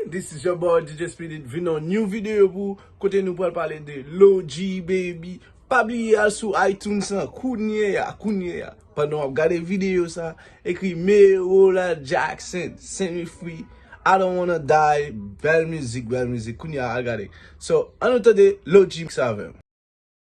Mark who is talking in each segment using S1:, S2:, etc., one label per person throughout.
S1: This is your boy DJ Speedy vin on new video pou ou kote nou pral pale de Log baby pa bliye al sou iTunes lan kounye ya kounye ya pandan wap gade video sa ekri Merola Jackson set me free I don't wanna die bèl mizik bèl mizik kounye ya al gade so an nou tande Log mix avèm.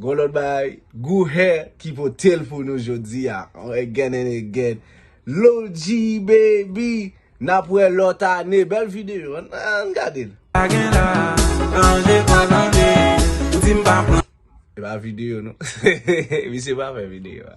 S1: Gon lòt bagay Gou Hair ki potel pou nou jodi a again and again Low G baby nap wè lòt ane bèl video ann gadel. Se pa video non misye pa fè video a.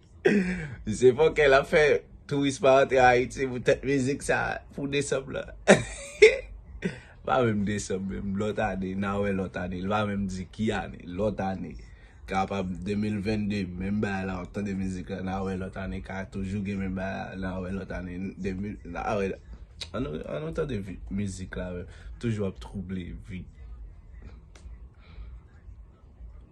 S1: Se fòkè lap fè touris pa antre Ayiti pou tèt mizik sa pou desanm lan. Pa menm desanm menm, lòt ane, n a wè lòt ane, l pa menm di ki ane, lòt ane. Kapab 2022 menm bagay la w ap tande mizik la, n a wè lòt ane ka toujou gen menm bagay la, n a wè lòt ane 2000, n a wè. An nou, an nou tande vi, mizik la menm, toujou ap twouble vi.